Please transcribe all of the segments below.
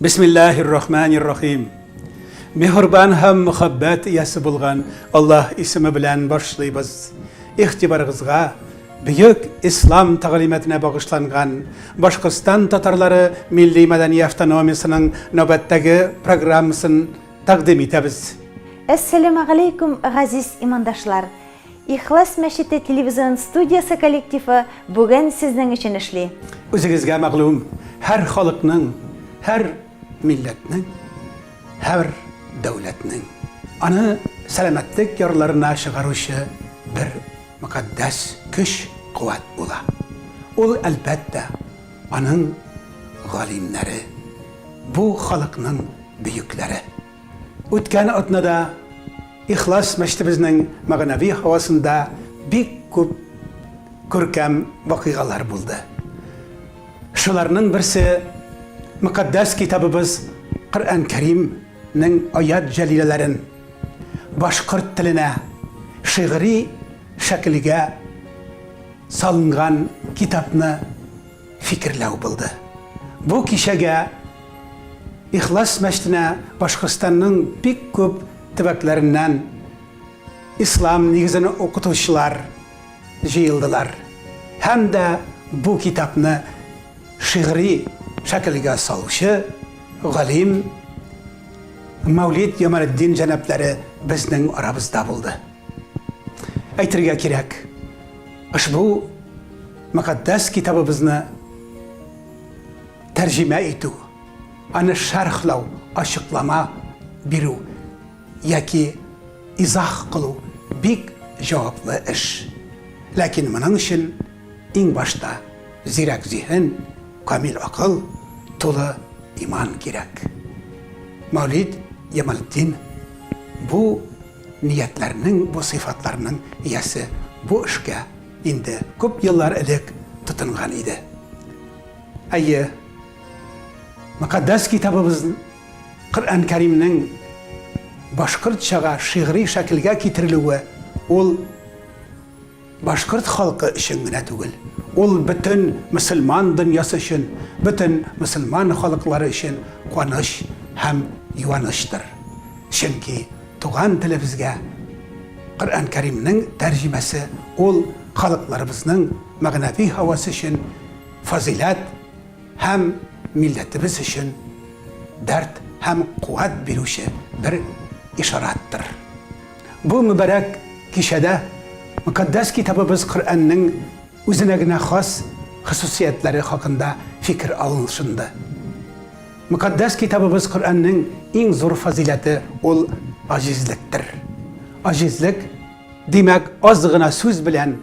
Бисмиллаһир рахманир рахим. Мехрбан һәм мөхәббәт иясе булган Аллаһ исеме белән башлыйбыз. Игътибарыгызга бөек ислам тәгълиматына багышланган Башкортстан татарлары милли мәдәни автономиясенең нәүбәттәге программасын тәкъдим итәбез. Әссәләмәгаләйкүм, газиз имандашлар! Ихлас мәчете телевизион студиясе коллективы бүген сезнең өчен эшли. Үзегезгә мәгълүм, һәр халыкның, һәр милләтнең, һәр дәүләтнең аны сәламәтлек ярларына чыгаручы бер мөкатдәс көч, куәт була. Ул, әлбәттә, аның галимнәре, бу халыкның бөекләре. Үткән атнада Ихлас мәчетебезнең мәгънәви һавасында бик күп күркәм вакыйгалар булды. Шуларның берсе, Мөкатдәс китабыбыз Коръән Кәримнең аят җәлиләләрен башкорт теленә шигъри шәкелгә салынган китапны, фикерләү булды. Бу кичәгә Ихлас мәчетенә Башкортстанның бик күп төбәкләреннән ислам нигезен укытучылар җыелдылар һәм дә бу китапны шигъри шәкелгә салучы галим Мәүлид Ямаретдин җәнапләре безнең арабызда булды. Әйтергә кирәк, ошбу мөкатдәс китабыбызны тәрҗемә итү, аны шәрхләү, ачыклама бирү яки изах кылу бик җаваплы эш. Ләкин моның өчен иң башта зирәк зиһен, камил акыл, тулы иман кирәк. Мәүлид Ямалтдин бу Ниятләрнең бу сыйфатларның иясе бу эшкә инде күп еллар элек тотынган иде. Әйе, Мөкатдәс Китабыбыз Коръән Кәримнең башкортчага шигъри шәкелгә китерелүе ул, Башкорт халкы өчен генә түгел, ул бөтен мөселман дөньясы өчен, бөтен мөселман халыклары өчен куаныч һәм юанычтыр. Чөнки туган телебезгә Коръән Кәримнең тәрҗемәсе ул халыкларыбызның мәгънәви һавасы өчен фазыйләт һәм милләтебез өчен дәрт һәм куәт бирүче бер ишараттыр. Бу мөбарәк кичәдә Мөкатдәс Китабыбыз Коръәннең үзенә генә хас хосусиятләре хакында фикер алыншынды. Мөкатдәс Китабыбыз Коръәннең иң зур фазыйләте ул аҗизлектер. Аҗизлек, димәк, аз гына сүз белән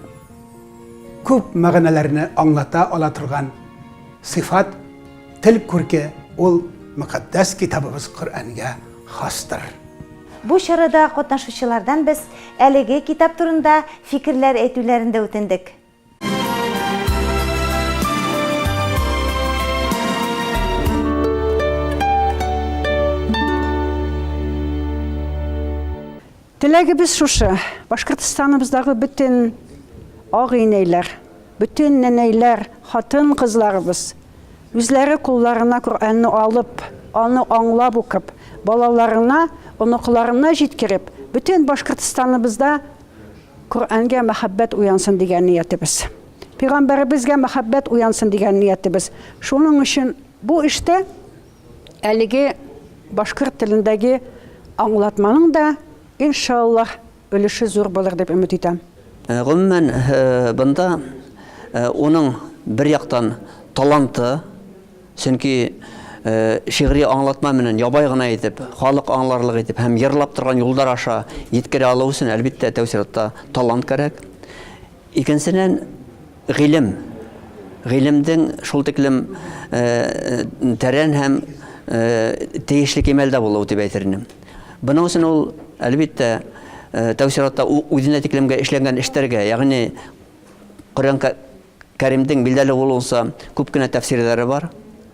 күп мәгънәләрне аңлата ала торган сыйфат, тел күрке ул Мөкатдәс Китабыбыз Коръәнгә хастыр. Бу чарада катнашучылардан без әлеге китап турында фикерләр әйтүләрен дә үтендек. Теләгебез шушы, Башкортстаныбыздагы бөтен агыйнәйләр, бөтен нәнәйләр, хатын-кызларыбыз үзләре кулларына Коръәнне алып, аны аңлап укып, балаларына, оныкларына җиткереп, бөтен Башкортстаныбызда Коръәнгә мәхәббәт уянсын дигән ниятебез. Пигамбәребезгә мәхәббәт уянсын дигән ниятебез. Шуның өчен бу эштә әлеге башкорт телендәге аңлатманың да, иншаллаһ, өлеше зур булыр дип өмет итәм. Гомумән, бында уның бер яктан таланты, чөнки шигъри аңлатма менен ябай гына итеп, халык аңларлык итеп һәм җырлап торган юлдар аша җиткерә алу өчен, әлбиттә, тәү чиратта талант кәрәк. Икенчедән, гыйлем. Гыйлемдең шул тиклем тәрән һәм тиешле кимәлдә булуы дип әйтер идем. Буның өчен ул, әлбиттә, тәү чиратта үзенә тиклемгә эшләнгән эшләргә, ягъни Коръән Кәримдең билдәле булуынча күп кенә тәфсирләре бар.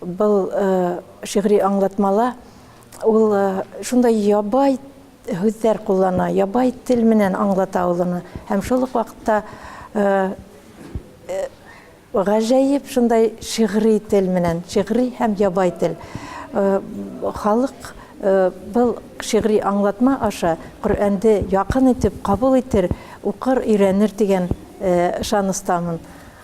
Был шигъри аңлатмала ул шундай ябай һүзләр куллана, ябай тел менән аңлата ул аны. Һәм шул ук вакытта гаҗәеп шундай шигъри тел менән, шигъри һәм ябай тел. Халык был шигъри аңлатма аша Коръәнде якын итеп кабул итер, укыр, өйрәнер дигән ышаныстамын.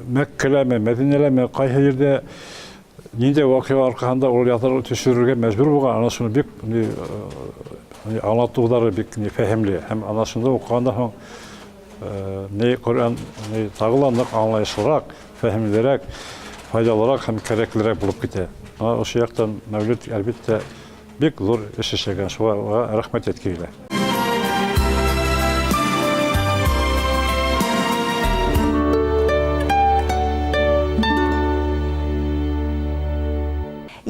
Мәккәләме, Мәдинәләме, кайсы җирдә нинди вакыйга аркасында ул ятыр төшерергә мәҗбүр булган, ана шуны бик ни аңлатулары бик ни фәһемле һәм ана шунда укыганда соң ни Коръән ни тагы да нык аңлаешлырак, фәһемлерәк, файдалырак һәм кирәклерәк булып китә. Ана ошо яктан мәүлид әлбәттә Бик зур эш эшләгән, шуңа аңа рәхмәт әйтке килә.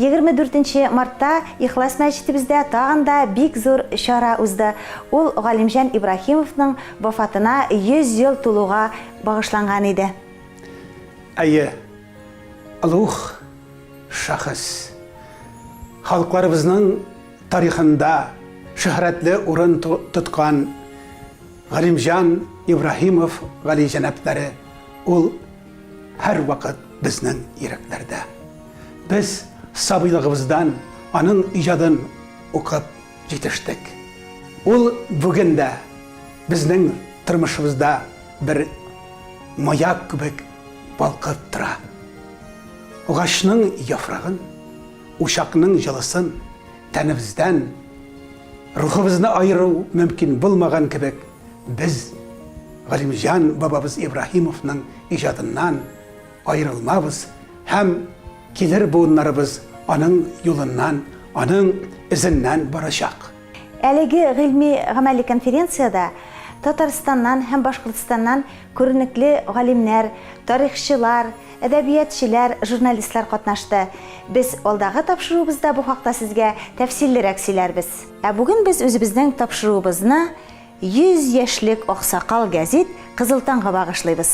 Егерме дүртенче мартта Ихлас мәчетебездә тагын да бик зур чара узды. Ул Галимҗан Ибраһимовның вафатына 100 ел тулуга багышланган иде. Әйе, Олуг шәхес. Халыкларыбызның тарихында шөһрәтле урын тоткан Галимҗан Ибраһимов галиҗәнаплары ул һәрвакыт безнең йөрәкләрдә. Без сабыйлыгыбыздан аның иҗадын укып җитештек. Ул бүген дә безнең тормышыбызда бер маяк кебек балкыттыра. Агачның яфрагын, учакның җылысын тәнебездән, рухыбызны аеру мөмкин булмаган кебек, без Галимҗан бабабыз Ибраһимовның иҗадыннан аерылмабыз һәм килер буыннарыбыз аның юлыннан, аның эзеннән барачак. Әлеге гыйльми-гамәли конференциядә Татарстаннан һәм Башкортстаннан күренекле галимнәр, тарихчылар, әдәбиятчеләр, журналистлар катнашты. Без алдагы тапшыруыбызда бу хакта сезгә тәфсиллерәк сөйләрбез. Ә бүген без үзебезнең тапшыруыбызны 100 яшьлек аксакал гәзит Кызыл таңга багышлыйбыз.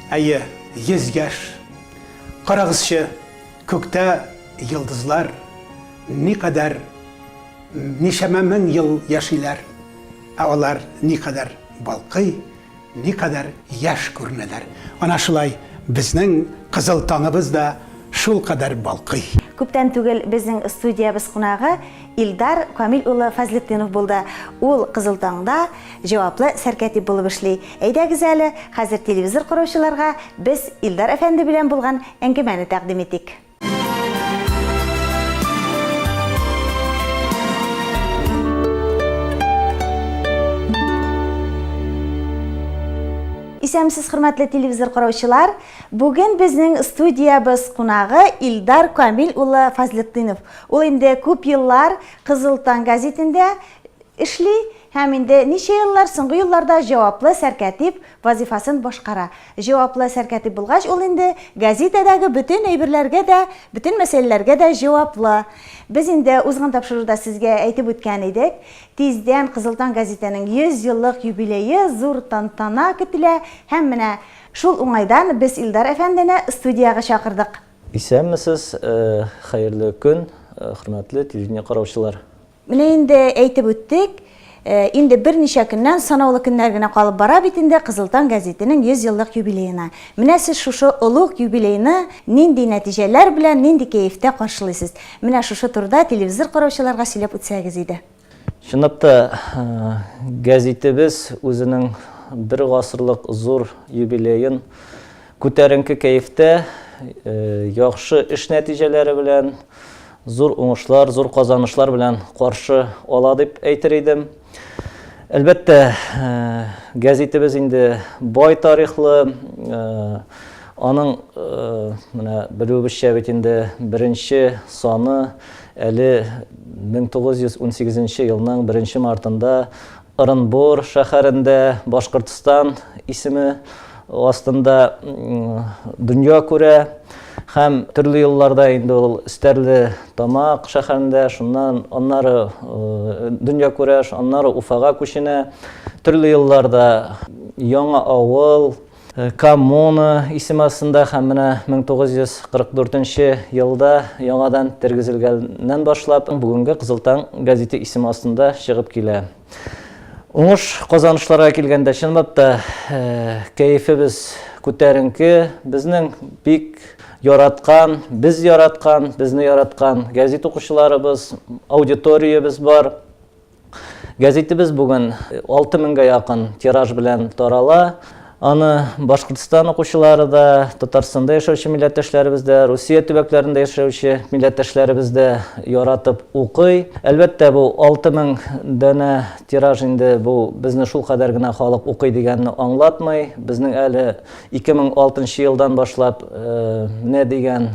Әйе, 100 яшь! Карагызчы, күктә йолдызлар никадәр Ничәмә мең ел яшиләр, ә алар никадәр балкый, никадәр яшь күренәләр! Ана шулай безнең кызыл таңыбыз да шулкадәр балкый. Күптән түгел безнең студиябез кунагы Илдар Камил улы Фазлетдинов булды. Ул Кызыл таңда җаваплы сәркәтип булып эшли. Әйдәгез әле, хәзер телевизор караучыларга без Илдар әфәнде белән булган әңгәмәне тәкъдим итик. Исәмсез хөрмәтле телевизор караучылар. Бүген безнең студиябез кунагы Илдар Камил улы Фазлетдинов. Ул инде күп еллар Кызыл таң газетендә эшли һәм инде ничә еллар соңгы елларда җаваплы сәркәтип вазифасын башкара. Җаваплы сәркәтиб булгач, ул инде гәзитәдәге бөтен әйберләргә дә, бөтен мәсьәләләргә дә җаваплы. Без инде узган тапшыруда сезгә әйтеп үткән идек, тиздән Кызыл таң гәзитәнең 100 еллык юбилее, зур тантана көтелә. Һәм менә шул уңайдан без Илдар әфәндене студиягә чакырдык. Исәнмесез, хәерле көн, хөрмәтле телевидение караучылар. Менә инде әйтеп үттек, инде берничә көннән, санаулы көннәр генә калып бара бит инде Кызыл таң гәзитенең 100 еллык юбилеена. Менә сез шушы олуг юбилейны нинди нәтиҗәләр белән, нинди кәефтә каршылыйсыз? Менә шушы турыда телевизор караучыларга сөйләп үтсәгез иде. Чынлап та, гәзитебез үзенең бер гасырлык зур юбилеен күтәренке кәефтә, яхшы эш нәтиҗәләре белән, зур уңышлар, зур казанышлар белән каршы ала дип әйтер идем. Әлбәттә, гәзитебез инде бай тарихлы, аның менә белүебезчә бит инде беренче саны әле 1918 елның беренче мартында Ырынбур шәһәрендә Башкортстан исеме астында дөнья күрә һәм төрле елларда инде ул Стәрле Тамак шәһәрендә, шуннан аннары дөнья күрә, аннары Уфага күченә. Төрле елларда Яңа авыл, Коммуна исеме астында һәм менә 1944 нче елда яңадан тергезелгәннән башлап бүгенге Кызыл таң газете исеме астында чыгып килә. Уңыш казанышларга килгәндә, чынлап та кәефебез күтәренке, безнең бик яраткан, без яраткан, безне яраткан газет укучыларыбыз, аудиториябез бар. Гәзитебез бүген 6000 гә якын тираж белән тарала. Аны Башкортстан укучылары да, Татарстанда яшәүче милләттәшләребез дә, Русия төбәкләрендә яшәүче милләттәшләребез дә яратып укый. Әлбәттә, бу 6000 данә тираж инде бу безне шулкадәр генә халык укый дигәнне аңлатмый. Безнең әле 2006 нчы елдан башлап менә дигән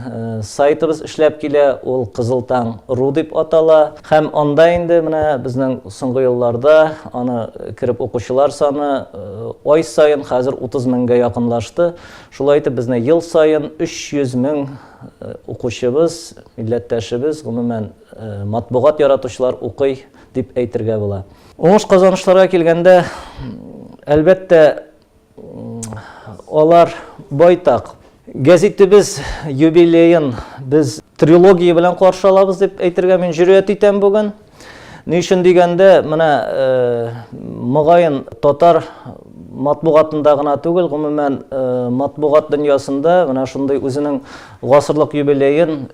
сайтыбыз эшләп килә, ул Кызыл таң ру дип атала. Һәм анда инде менә безнең соңгы елларда аны кереп укучылар саны ай саен хәзер 30 меңгә якынлашты. Шулай итеп безне ел саен 300 мең укучыбыз, милләттәшебез, гомумән матбугат яратучылар укый дип әйтергә була. Уңыш-казанышларга килгәндә, әлбәттә, Алар байтак. Гәзитебез юбилеен без трилогия белән каршы алабыз дип әйтергә мин җөрьәт итәм бүген. Ни өчен дигәндә, менә мөгаен татар матбугатында гына түгел, гомумән матбугат дөньясында менә шундый үзенең гасырлык юбилеен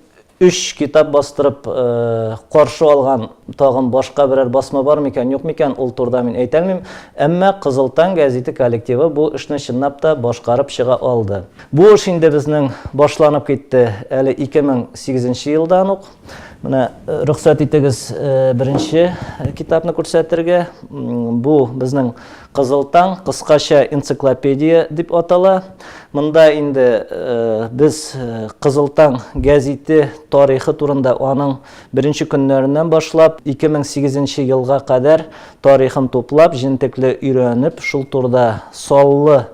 Өч китап бастырып каршы алган тагын башка берәр басма бар микән, юк микән, ул турыда мин әйтә алмыйм. Әмма Кызыл таң гәзите коллективы бу эшне чынлап та башкарып чыга алды. Бу эш инде безнең башланып китте әле 2008 нче елдан ук. Менә рөхсәт итегез беренче китапны күрсәтергә. Бу безнең Кызыл таң, кыскача энциклопедия дип атала. Монда инде без Кызыл таң гәзите тарихы турында аның беренче көннәреннән башлап 2008 елга кадәр тарихын туплап, җентекле өйрәнеп, шул турда саллы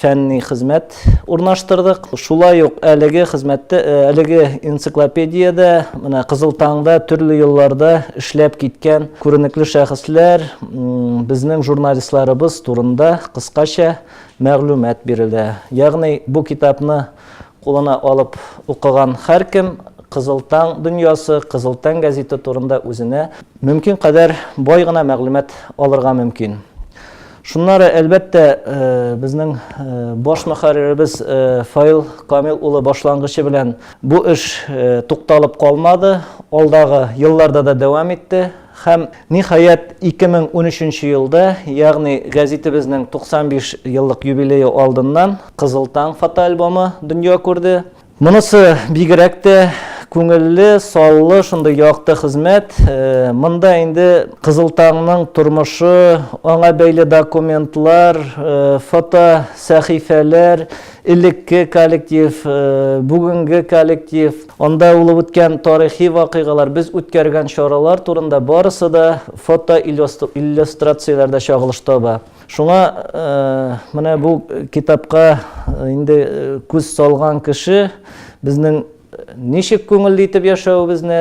фәнни хезмәт урнаштырдык. Шулай ук әлеге хезмәттә, э, әлеге энциклопедиядә, менә Кызыл таңда төрле елларда эшләп киткән күренекле шәхесләр, безнең журналистларыбыз турында кыскача мәгълүмат бирелә. Ягъни бу китапны кулына алып укыган һәркем Кызыл таң дөньясы, Кызыл таң газеты турында үзенә мөмкин кадәр бай гына мәгълүмат алырга мөмкин. Шуннары, әлбәттә, безнең баш мөхәрриребез Фаил Камил улы башлангычы белән бу эш тукталып калмады, алдагы елларда да дәвам итте һәм, ниһаять, 2013 елда, ягъни гәзитебезнең 95 еллык юбилее алдыннан Кызыл таң фотоальбомы дөнья күрде. Монысы бигрәк тә күңелле, саллы, шундый якты хезмәт. Монда инде Кызыл таңның тормышы, аңа бәйле документлар, фотосәхифәләр, элекке коллектив, бүгенге коллектив, анда булып үткән тарихи вакыйгалар, без үткәргән чаралар турында барысы да фотоиллюстрацияләрдә чагылыш таба. Шуңа менә бу китапка инде күз салган кеше безнең ничек күңелле итеп яшәвебезне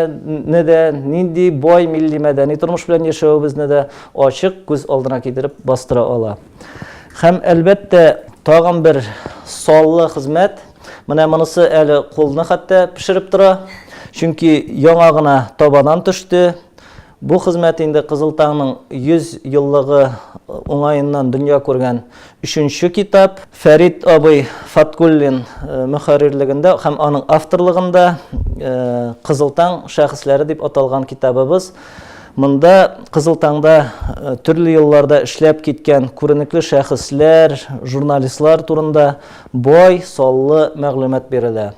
дә, нинди бай милли мәдәни тормыш белән яшәвебезне дә ачык күз алдына китереп бастыра ала. Һәм, әлбәттә, тагын бер саллы хезмәт, менә монысы әле кулны хәтта пешереп тора, чөнки яңа гына табадан төште. Бу хезмәт инде Кызыл таңның 100 еллыгы уңаеннан дөнья күргән өченче китап. Фәрит абый Фаткуллин мөхәррирлегендә һәм аның авторлыгында Кызыл таң шәхесләре дип аталган китабыбыз. Монда Кызыл таңда төрле елларда эшләп киткән күренекле шәхесләр, журналистлар турында бай, саллы мәгълүмат бирелә.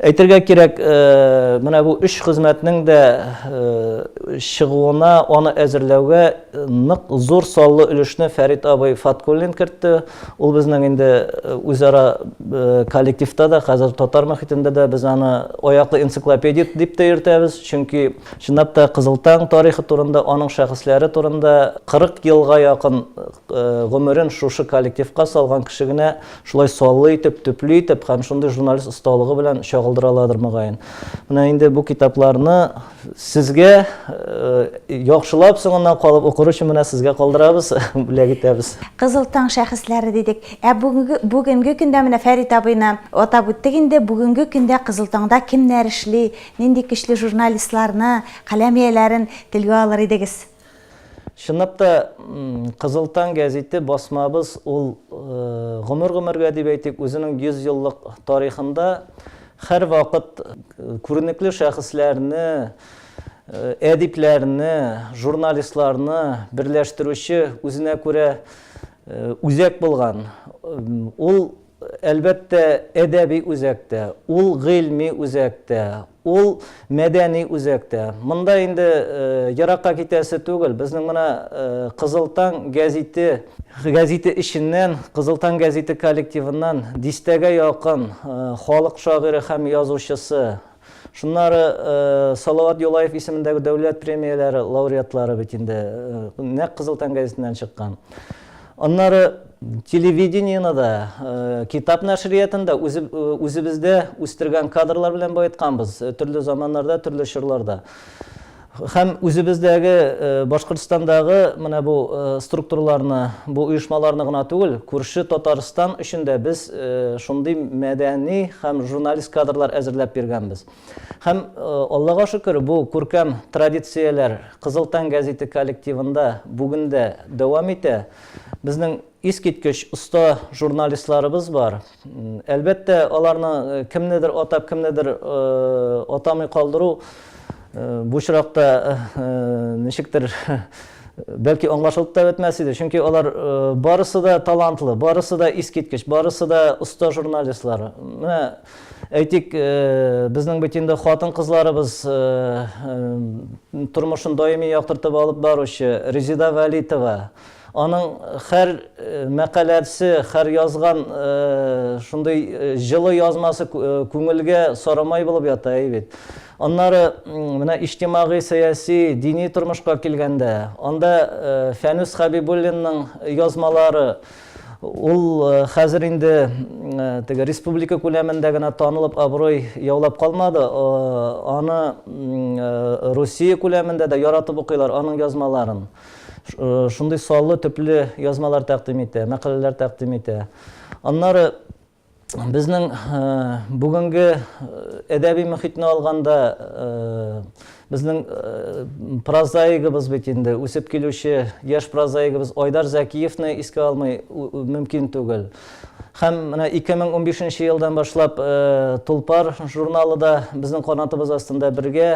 Әйтергә кирәк, менә бу өч хезмәтнең дә чыгуына, аны әзерләүгә нык зур саллы өлешне Фәрит абый Фаткуллин кертте. Ул безнең инде үзара коллективта да, хәзер татар мөхитендә дә без аны аяклы энциклопедия дип тә йөртәбез. Чөнки, чынлап та, Кызыл таң тарихы турында, аның шәхесләре турында 40 елга якын гомерен шушы коллективка салган кеше генә Шулай саллы итеп, төпле итеп һәм шундый журналист осталыгы белән чагылдыраладыр мөгаен. Менә инде бу китапларны сезгә яхшылап соңыннан калып укыр өчен менә сезгә калдырабыз, бүләк итәбез. Кызыл таң шәхесләре дидек. Ә бүгенге бүгенге көндә менә Фәрит абыйны атап үттек инде. Бүгенге көндә Кызыл таңда кемнәр эшли, нинди көчле журналистларны, каләм ияләрен телгә алыр идегез? Чынлап та, Кызыл таң гәзите басмабыз ул гомер-гомергә дип әйтик, үзенең 100 еллык тарихында һәрвакыт күренекле шәхесләрне, әдипләрне, журналистларны берләштерүче үзенә күрә үзәк булган. Ул, әлбәттә, әдәби үзәк тә, ул гыйльми үзәк тә, Ул мәдәни үзәк тә. Монда инде еракка китәсе түгел. Безнең менә Кызыл таң гәзите, гәзите эченнән, Кызыл таң гәзите коллективыннан дистәгә якын халык шагыйре һәм язучысы, шуннары Салават Юлаев исемендәге дәүләт премияләре лауреатлары бит инде нәкъ Кызыл таң гәзитеннән чыккан. Аннары телевидениены да, китап нәшриятын да үзебездә үстергән кадрлар белән баетканбыз, төрле заманнарда, төрле чорларда. Һәм үзебездәге Башкортстандагы менә бу структураларны, бу оешмаларны гына түгел, күрше Татарстан өчен дә без шундый мәдәни һәм журналист кадрлар әзерләп биргәнбез. Һәм, Аллага шөкер, бу күркәм традицияләр Кызыл таң гәзите коллективында бүген дә дәвам итә. Безнең искиткеч оста журналистларыбыз бар. Әлбәттә, аларны кемнедер атап, кемнедер атамый калдыру бу очракта ничектер, бәлки, аңлашылып та бетмәс иде. Чөнки алар барысы да талантлы, барысы да искиткеч, барысы да оста журналистлар. Менә Әйтик, безнең бит инде хатын-кызларыбыз тормышын даими яктыртып алып баручы Резеда Вәлитова. Аның хәр мәкаләсе, хәр язган шундый җылы язмасы күңелгә сарамай булып ята бит. Аннары менә иҗтимагый, сәяси, дини тормышка килгәндә, анда Фәнүс Хәбибуллинның язмалары, Ул хәзер инде теге республика күләмендә генә танылып, абруй яулап калмады, аны Русия күләмендә дә яратып укыйлар аның язмаларын. Шундый саллы, төпле язмалар тәкъдим итә, мәкаләләр тәкъдим итә. Аннары Безнең бүгенге әдәби мөхитне алганда, безнең прозаигыбыз бит инде, үсеп килүче яшь прозаигыбыз Айдар Зәкиевны искә алмый мөмкин түгел. Һәм менә 2015 елдан башлап Тулпар журналы да безнең канатыбыз астында бергә,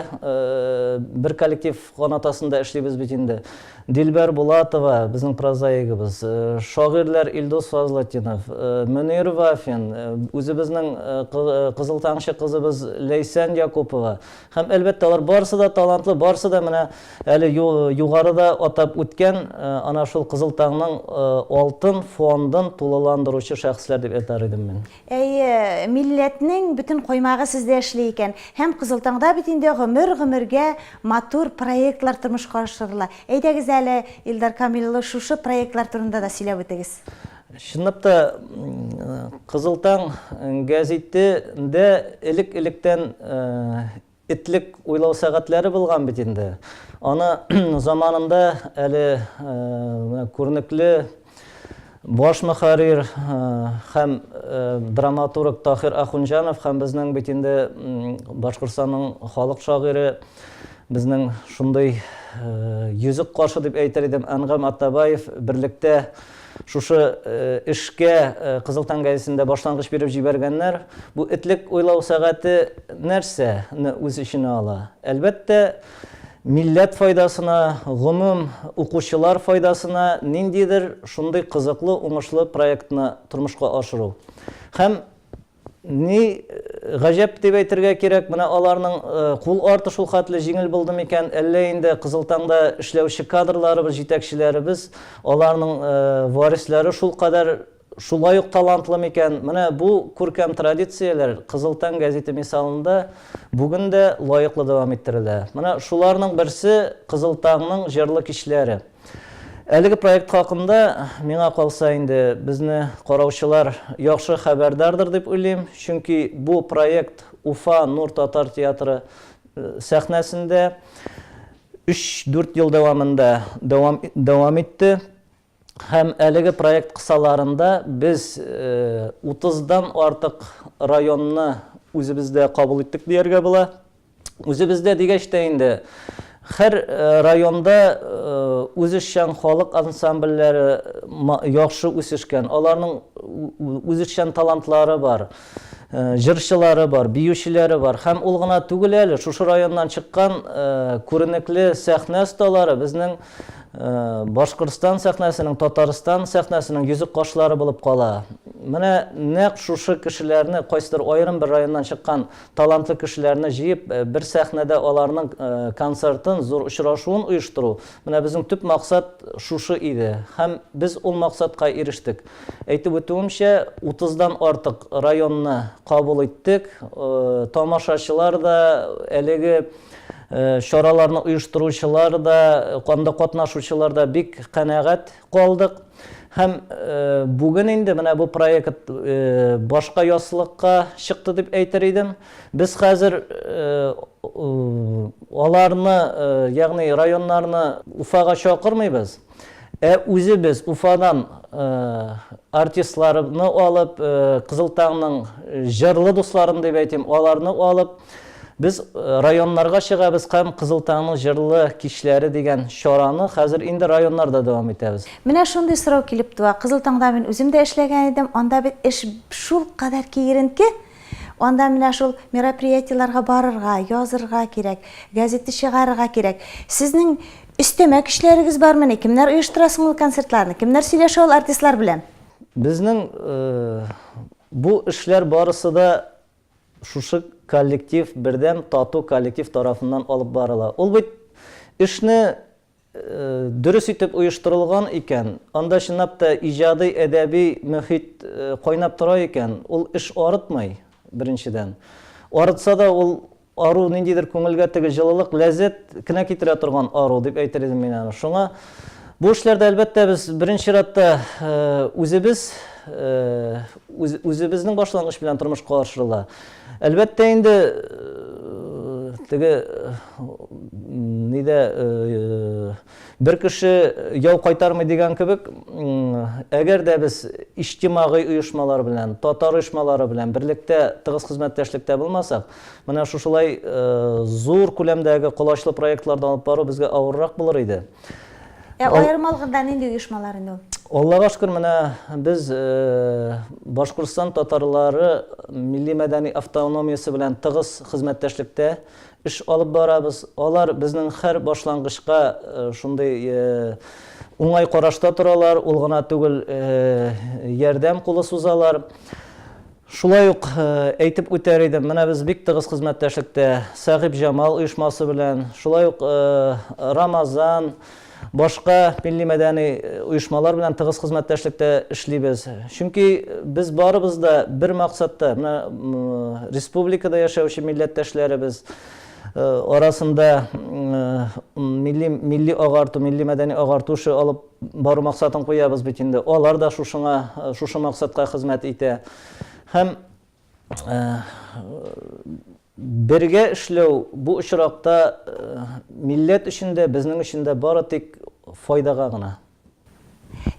бер коллектив канат астында эшлибез бит инде. Дилбәр Булатова, безнең прозаигыбыз, шагыйрьләр Илдус Фазлытдинов, Мөнир Вафин, үзебезнең Кызыл тамчы кызыбыз Ләйсән Якупова һәм, әлбәттә, алар барысы да талантлы, барысы да менә әле югарыда атап үткән ана шул Кызыл таңның алтын фондын тулыландыручы шәхесләр дип әйтәр идем мин. Әйе, милләтнең бөтен коймагы сездә эшли икән. Һәм Кызыл таңда бит инде гомер-гомергә матур проектлар тормышка ашырыла. Әйдәгез әле, Илдар Камил улы, шушы проектлар турында да сөйләп үтегез. Чынлап та, Кызыл таң гәзите дә элек-электән Этлек уйлау сәгатьләре булган бит инде. Аны заманында әле менә күренекле баш мөхәррир һәм драматург Таһир Ахунҗанов һәм безнең бит инде Башкортстанның халык шагыйре, безнең шундый йөзек кашы дип әйтер идем, Әнгам Атабаев берлектә Шушы эшкә Кызыл таң гәзитендә башлангыч биреп җибәргәннәр. Бу этлек уйлау сәгате нәрсә не үз эченә ала? Әлбәттә, милләт файдасына, гомум, укучылар файдасына ниндидер шундый кызыклы, уңышлы проектны тормышка ашыру. Һәм Ни гаҗәп дип әйтергә кирәк, менә аларның кул арты шулхәтле җиңел булды микән, әллә инде Кызыл таңда эшләүче кадрларыбыз, җитәкчеләребез, аларның варисләре шулкадәр шулай ук талантлы микән? Менә бу күркәм традицияләр Кызыл таң гәзите мисалында бүген дә лаеклы дәвам иттерелә. Менә шуларның берсе, Кызыл таңның җырлы кичләре. Әлеге проект хакында, миңа калса инде, безне караучылар яхшы хәбәрдардыр дип уйлыйм, чөнки бу проект Уфа Нур татар театры сәхнәсендә өч-дүрт ел дәвамында дәвам дәвам итте. Һәм әлеге проект кысаларында без утыздан артык районны үзебездә кабул иттек дияргә була. Үзебездә дигәч тә инде, хәр районда үзешчән халык ансамбльләре яхшы үсешкән, аларның үзешчән талантлары бар, җырчылары бар, биючеләре бар. Һәм ул гына түгел әле, шушы районнан чыккан күренекле сәхнә осталары безнең Башкортстан сәхнәсенең, Татарстан сәхнәсенең йөзек кашлары булып кала. Менә нәкъ шушы кешеләрне, кайсыдыр аерым бер районнан чыккан Талантлы кешеләрне җыеп, бер сәхнәдә аларның концертын, зур очрашуын оештыру, менә безнең төп максат шушы иде. Һәм без ул максатка ирештек. Әйтеп үтүемчә, 30 дан артык районны кабул иттек. Тамашачылар да, әлеге чараларны оештыручылар да, анда катнашучылар да бик канәгать. Калдык. Һәм бүген инде менә бу проект башка яссылыкка чыкты дип әйтер идем. Без хәзер аларны, ягъни районнарны Уфага чакырмыйбыз, ә үзебез Уфадан артистларны алып, Кызыл таңның җырлы дусларын дип әйтим, аларны алып, Без районнарга чыгабыз һәм Кызыл таңның җырлы кичләре дигән чараны хәзер инде районнарда дәвам итәбез. Менә шундый сорау килеп туа. Кызыл таңда мин үзем дә эшләгән идем, анда бит эш шулкадәр киеренке, анда менә шул мероприятиеләргә барырга, язырга кирәк, газета чыгарырга кирәк. Сезнең өстәмә көчләрегез бармыни? Кемнәр оештыра соң ул концертларны? Кемнәр сөйләшә ул артистлар белән? Безнең бу эшләр барысы да Шушы коллектив бердәм тату коллектив тарафыннан алып барыла. Ул бит эшне дөрес итеп оештырылган икән, анда чынлап та иҗади, әдәби мөхит кайнап тора икән, ул эш арытмый, беренчедән. Арытса да, ул ару ниндидер күңелгә теге җылылык, ләззәт кенә китерә торган ару дип әйтер идем мин аны. Шуңа. Бу эшләрдә, әлбәттә, без беренче чиратта үзебез, үзебезнең башлангыч белән тормышка ашырыла. Әлбәттә инде, теге нидә бер кеше яу кайтармый дигән кебек, әгәр дә без иҗтимагый оешмалар белән, татар оешмалары белән берлектә тыгыз хезмәттәшлектә булмасак, Менә шушылай зур күләмдәге колачлы проектларны алып бару безгә авыррак булыр иде. Ә аерым алганда нинди оешмалар инде ул? Аллага шөкер, менә без Башкортстан татарлары милли-мәдәни автономиясе белән тыгыз хезмәттәшлектә эш алып барабыз. Алар безнең һәр башлангычка шундый уңай карашта торалар, ул гына түгел, ярдәм кулы сузалар. Шулай ук әйтеп үтәр идем, менә без бик тыгыз хезмәттәшлектә Сәгыйпҗамал оешмасы белән, шулай ук Рамазан, башка милли-мәдәни оешмалар белән тыгыз хезмәттәшлектә эшлибез. Чөнки без барыбыз да бер максатта, менә республикада яшәүче милләттәшләребез арасында милли-агарту, милли-мәдәни агарту эше алып Бару максатын куябыз бит инде. Алар да шушыңа, шушы максатка хезмәт итә. Һәм бергә эшләү бу очракта милләт өчен дә, безнең өчен дә бары тик файдага гына.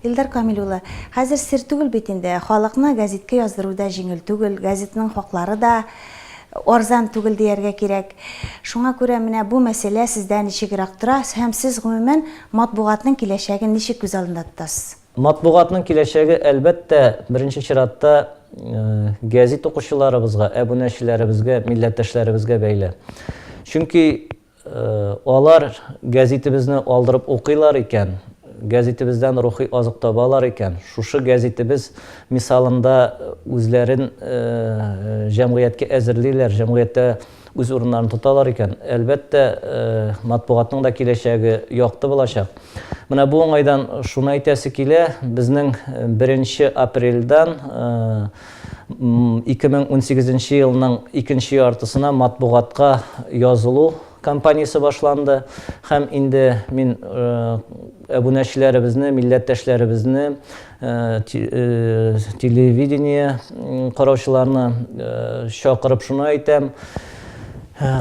Илдар Камил улы, хәзер сер түгел бит инде, халыкны гәзиткә яздыру да җиңел түгел, газетның хаклары да Арзан түгел дияргә кирәк. Шуңа күрә менә бу мәсьәлә сездә ничегрәк тора һәм сез, гомумән, матбугатның киләчәген ничек күз алдында тотасыз? Матбугатның киләчәге, әлбәттә, беренче чиратта гәзит укучыларыбызга, әбүнәчеләребезгә, милләттәшләребезгә бәйле. Чөнки Алар гәзитебезне алдырып укыйлар икән, гәзитебездән рухи азык табалар икән, шушы гәзитебез мисалында үзләрен җәмгыятькә әзерлиләр, җәмгыятьтә үз урыннарын тоталар икән, әлбәттә, матбугатның да киләчәге якты булачак. Менә бу уңайдан шуны әйтәсе килә, безнең беренче апрельдән, 2018 нче елның икенче яртысына матбугатка язылу кампаниясе башланды һәм инде мин әбүнәчеләребезне, милләттәшләребезне, телевидение караучыларны чакырып шуны әйтәм,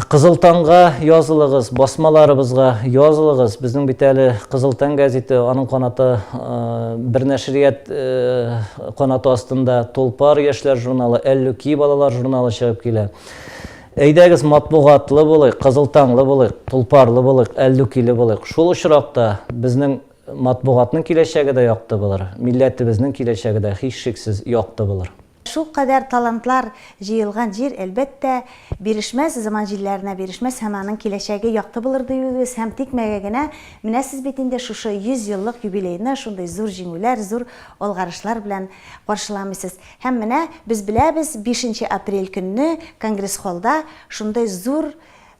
Кызыл таңга язылыгыз, басмаларыбызга язылыгыз. Безнең бит әле Кызыл таң гәзите, аның канаты бер нәшрият канаты астында Тулпар яшьләр журналы, Әллүки балалар журналы чыгып килә. Әйдәгез, матбугатлы булыйк, Кызыл таңлы булыйк, Тулпарлы булыйк, Әллүкиле булыйк. Шул очракта безнең матбугатның киләчәге дә якты булыр, милләтебезнең киләчәге дә һичшиксез якты булыр. Шул кадәр талантлар җыелган җир, әлбәттә, бирешмәс, заман җилләренә бирешмәс һәм аның киләчәге якты булыр дип үгез һәм тикмәгә генә менә сез бит инде шушы 100 еллык юбилейны шундый зур җиңүләр, зур алгарышлар белән каршыламыйсыз. Һәм менә без беләбез, бишенче апрель көнне конгресс-холлда шундый зур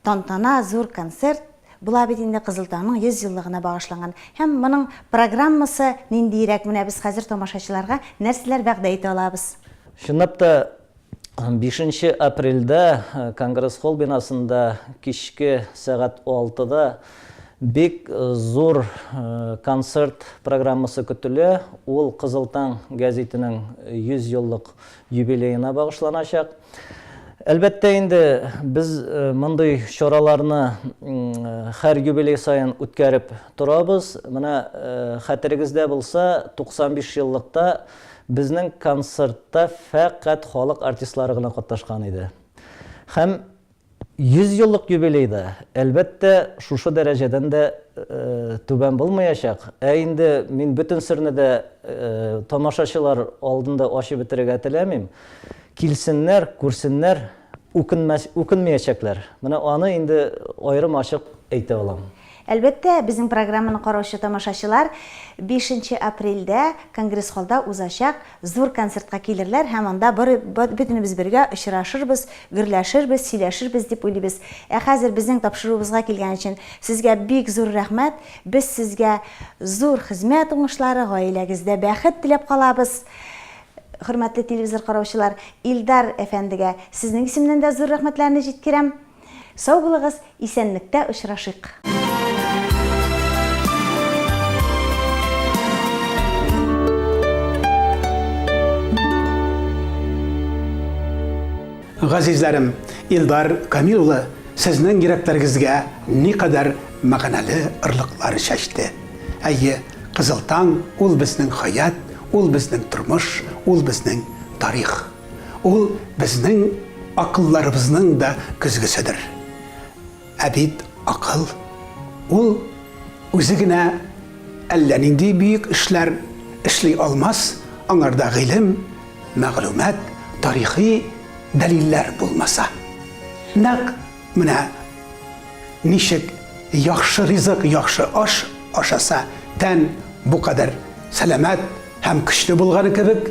тантана, зур концерт. Була бит инде Кызыл таңның 100 еллыгына багышланган һәм моның программасы ниндиерәк, менә без хәзер тамашачыларга нәрсәләр вәгъдә итә алабыз? Чынлап та, бишенче апрельдә Конгресс-холл бинасында кичке сәгать алтыда бик зур концерт программасы көтелә, ул Кызыл таң гәзитенең 100 еллык юбилеена багышланачак. Әлбәттә инде, без мондый чараларны һәр юбилей саен үткәреп торабыз. Менә хәтерегездә булса, 95 еллыкта безнең концертта фәкать халык артистлары гына катнашкан иде. Һәм 100 еллык юбилей да, әлбәттә, шушы дәрәҗәдән дә түбән булмаячак. Ә инде мин бөтен серне дә тамашачылар алдында ачып бетерергә теләмим. Килсеннәр, күрсеннәр, үкенмәячәкләр. Менә аны инде аерым ачык әйтә алам. Әлбәттә, безнең программаны караучы тамашачылар бишенче апрельдә конгресс-холлда узачак Зур концертка килерләр һәм анда бары бөтенебез бергә очрашырбыз, гөрләшербез, сөйләшербез дип уйлыйбыз. Ә хәзер безнең тапшыруыбызга килгән өчен сезгә бик зур рәхмәт. Без сезгә зур хезмәт уңышлары, гаиләгездә бәхет теләп калабыз. Хөрмәтле телевизор караучылар, Илдар әфәндегә сезнең исемнән дә зур рәхмәтләрне җиткерәм. Сау булыгыз, исәнлектә очрашыйк! Газизләрем, Илдар Камил улы сезнең йөрәкләрегезгә никадәр мәгънәле ырлыклар чәчте. Әйе, Кызыл таң, ул безнең хәят, ул безнең тормыш, ул безнең тарих. Ул безнең акылларыбызның да көзгеседер. Ә бит акыл, ул үзе генә әллә нинди бөек эшләр эшли алмас, аңарда гыйлем, мәгълүмат, тарихи дәлилләр булмаса. Нәкъ менә ничек яхшы ризык, яхшы аш ашаса, тән бу кадәр сәламәт һәм көчле булганы кебек,